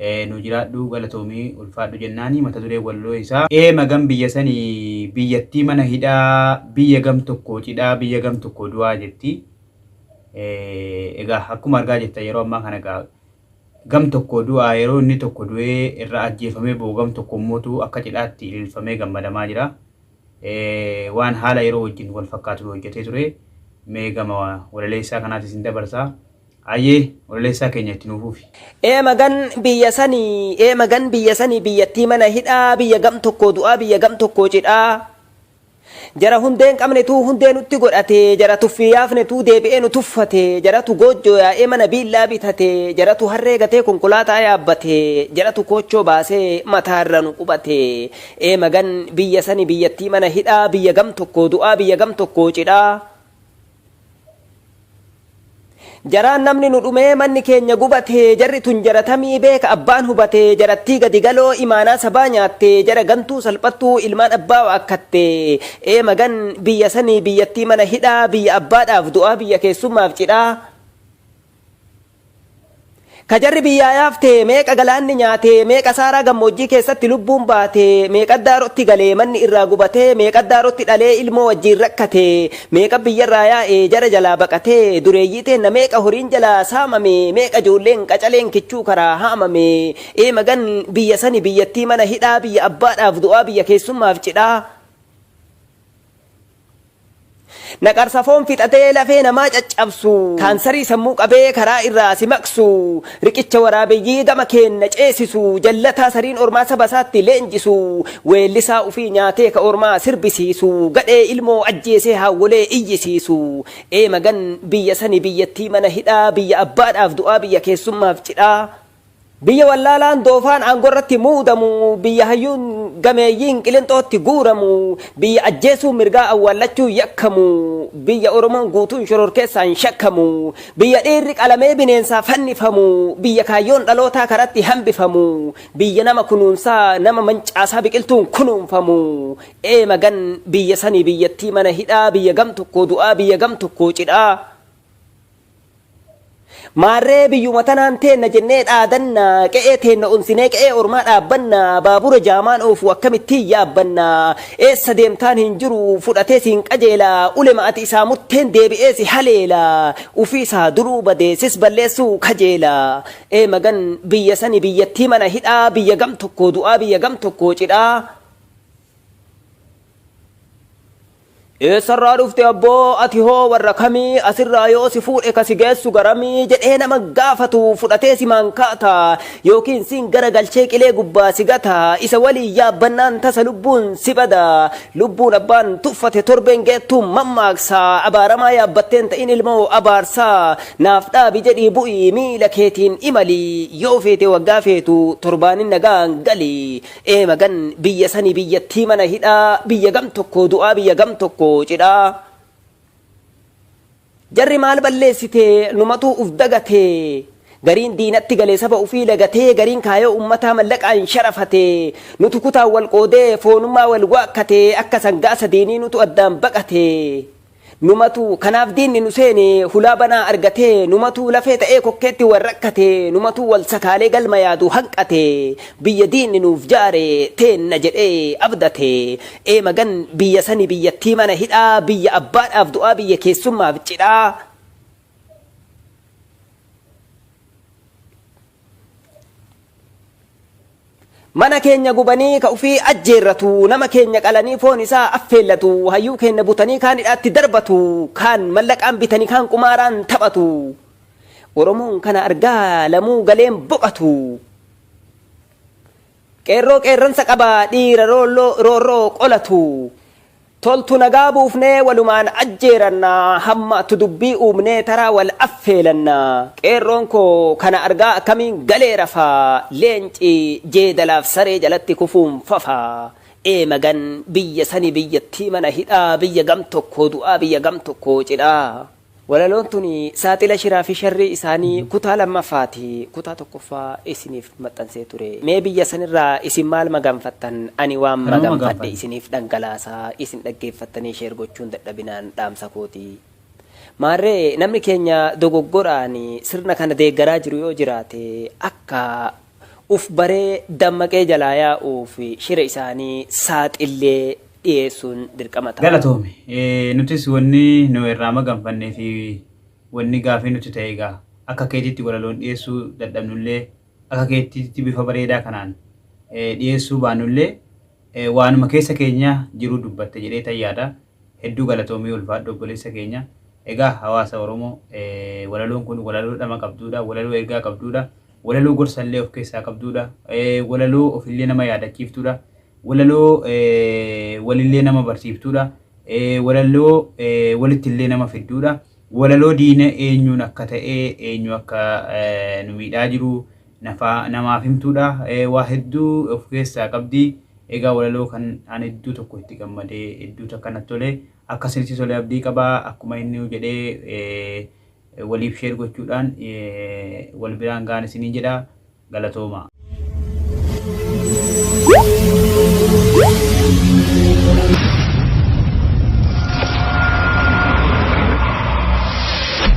Ee nuu jiraadhu galatoomi ulfaadhu jennaani mata dureen walloo isaa. Ee magan biyya sani biyyattii mana hidhaa biyya gam tokko cidhaa biyya gam tokko du'aa jetti egaa akkuma argaa jirtan yeroo ammaa kana egaa gam tokko du'aa yeroo inni tokko du'ee irra ajjeefamee boo gam tokko immootu akka cidhaatti ililfamee gammadamaa jira waan haala yeroo wajjin wal fakkaatu hojjetee ture mee gama walaleessaa kanaatis hin dabarsaa Hayyee ololeessaa keenya itti nuu fufi. Ee magan biyya sanii ee magan biyya sanii biyyattii mana hidhaa biyya gam tokkoo du'aa biyya gam tokkoo cidhaa jara hundee hin qabnetuu hundee nutti godhate jara tuffii yaafnetuu deebi'ee nu tuffate jaratu goojjoo yaa'ee mana biillaa bitate jaratu harree gatee konkolaataa yaabbate jaratu koochoo baasee mataa irra nu qubate ee magan biyya sanii biyyattii mana hidhaa biyya gam tokkoo du'aa biyya gam tokkoo cidhaa Jaraan namni nu dhumee manni keenya gubate jarri tun jaratamii beeka abbaan hubate jarattii gadi galoo imaanaa sabaa nyaatte jara gantuu salphattuu ilmaan abbaa waakkatte ee magan biyya sanii biyyattii mana hidhaa biyya abbaadhaaf du'aa biyya keessummaaf cidhaa Ka jarri biyyaa yaafte meeqa galaanni nyaate, meeqa Saaraa gammoojjii keessatti lubbuun baate, meeqat daarotti gale, manni irraa gubate, meeqat daarotti dhalee ilmoo wajjiin rakkate, meeqat biyyarraa yaa'e, jara jalaa baqate, dureeyyii teenna meeqa horiin jalaa saamame, meeqa ijoolleen qacaleen kichuu karaa haamame, ee magan biyya sani biyyattii mana hidhaa, biyya abbaadhaaf du'aa, biyya keessummaaf cidhaa. Naqarsa foon fixatee lafee namaa caccabsu, kaansarii sammuu qabee karaa irraa si maqsu, riqicha waraabeyyii gama keenna ceesisu, jallataa sariin ormaa saba isaatti leenjisu, weellisaa ufii nyaatee ka ormaa sirbisiisu, gadhee ilmoo ajjeesee haawwolee iyyisiisu. Ee magan biyya sani biyyattii mana hidhaa, biyya abbaadhaaf du'aa, biyya keessummaaf cidhaa. Biyya wallaalaan doofaan aangorratti muudamu, biyya hayyuun gameeyyiin qilinxootti guuramu, biyya ajjeesuun mirgaa awwaallachuun yakkamu, biyya Oromoon guutuun shororkeessaan shakkamu, biyya dhiirri qalamee bineensaa fannifamu, biyya kaayyoon dhalootaa karatti hambifamu, biyya nama kunuunsaa nama mancaasaa biqiltuun kunuunfamu, ee magan biyya sanii biyyattii mana hidhaa, biyya gam tokkoo du'aa, biyya gam tokkoo cidhaa. Maarree biyyuma tanaan teenna jennee dhaadanna, qe'ee teenna onsinee qe'ee ormaa dhaabbanna, baabura jaamaan oofu akkamittiin yaabbanna? Eessa deemtaan hin jiru, fudhatee siin qajeela, ulema ati isaa murteen deebi'ee si haleela, ufii isaa duruu badee sis balleessuu kajeela. Ee magan biyya sani biyyattii mana hidhaa, biyya gam tokkoo du'aa biyya gam tokkoo cidhaa. Eessarraa dhufte abboo ati hoo warra kamii asirraa yoo si fuudhe ka si geessu garamii jedhee nama gaafatu fudhatee si maankaata yookiin siin gara galchee qilee gubbaa si gata isa waliin yaabbannaan tasa lubbuun si bada lubbuun abbaan tuffate torbeen geettuun mammaaksa abaaramaa yaabbatteen ta'in ilmoo abaarsa naaf dhaabi jedhii bu'ii miila keetiin imali yoo feete waggaa feetu torbaanin nagaan gali Ee magan biyya sani biyyattii mana hidhaa biyya gam tokko du'aa biyya gam tokko cidhaa jarri maal balleessite numatuu uf dagate gariin diinatti galee saba ufii lagatee gariin kaayoo ummataa mallaqaan sharafate nutu kutaan wal qoodee foonummaa wal waakkate akka sangaa sadiinii nutu addaan baqate Numatu kanaaf diinni nu seene hulaa banaa argate Numatu lafee ta'ee kokkeetti wal rakkate Numatu wal sakaalee galma yaadu hanqate Biyya diinni nuuf jaare teenna jedhee abdate Ee magan biyya sani biyyattii mana hidhaa Biyya abbaadhaaf du'aa biyya keessummaaf cidhaa Mana keenya gubanii ka ufii ajjeerratu, nama keenya qalanii foon isaa affeellatu, hayyuu keenya butanii kaan hidhaatti darbatu, kaan mallaqaan bitanii kaan qumaaraan taphatu. Oromoon kana argaa lamuu galeen boqatu. Qeerroo qeerransa qaba dhiira roolloo roorroo qolatu. Toltu nagaa buufnee walumaan ajjeeranna Hammaattu dubbii uumnee taraa wal affeelanna Qeerroon koo kana argaa akkamiin galee rafa Leenci jeedalaaf saree jalatti kufuun fafa Ee magan biyya sani biyyattii mana hidhaa Biyya gam tokkoo du'aa biyya gam tokkoo cidhaa. Walaloon tun saaxila shiraa fi sharrii isaanii kutaa lammaffaa ti. Kutaa tokkoffaa isiniif maxxansee ture. Mee biyya san irraa isin maal maganfattan? Ani waan maganfadhe isiniif dhangalaasa, isin dhaggeeffattanii share gochuun dadhabinaan dhaamsa koo ti. Maarree namni keenya dogoggoraan sirna kana deeggaraa jiru yoo jiraate akka Uff baree dammaqee jalaa yaa'uuf shira isaanii saaxillee dhiyeessuun dirqama ta'a. Galatoomi. Nutis wanni nu irraa maganfannee fi wanni gaafii nutti ta'e egaa akka keetitti walaloon dhiyeessuu dadhabnullee akka keetitti bifa bareedaa kanaan dhiyeessuu baannullee waanuma keessa keenya jiru dubbatte jedheetan yaada. Hedduu galatoomi ulfaadhu obboleessa keenya. Egaa hawaasa Oromoo walaloon kun walaloo dhama qabduudha, walaloo ergaa qabduudha, walaloo gorsa illee of keessaa qabduudha, walaloo of illee nama yaadachiiftuudha, walaloo wal illee nama barsiiftuudha, walaloo walitti illee nama fidduudha, walaloo diina eenyuun akka ta'e eenyu akka nu miidhaa jiru nafaa namaaf himtuudha waa hedduu of keessaa qabdi egaa walaloo kan an hedduu tokko itti gammade hedduu takka natti tole akka isinitti tole abdii qaba akkuma inni jedhee waliif sheer gochuudhaan wal biraan ga'an isiniin jedha galatooma.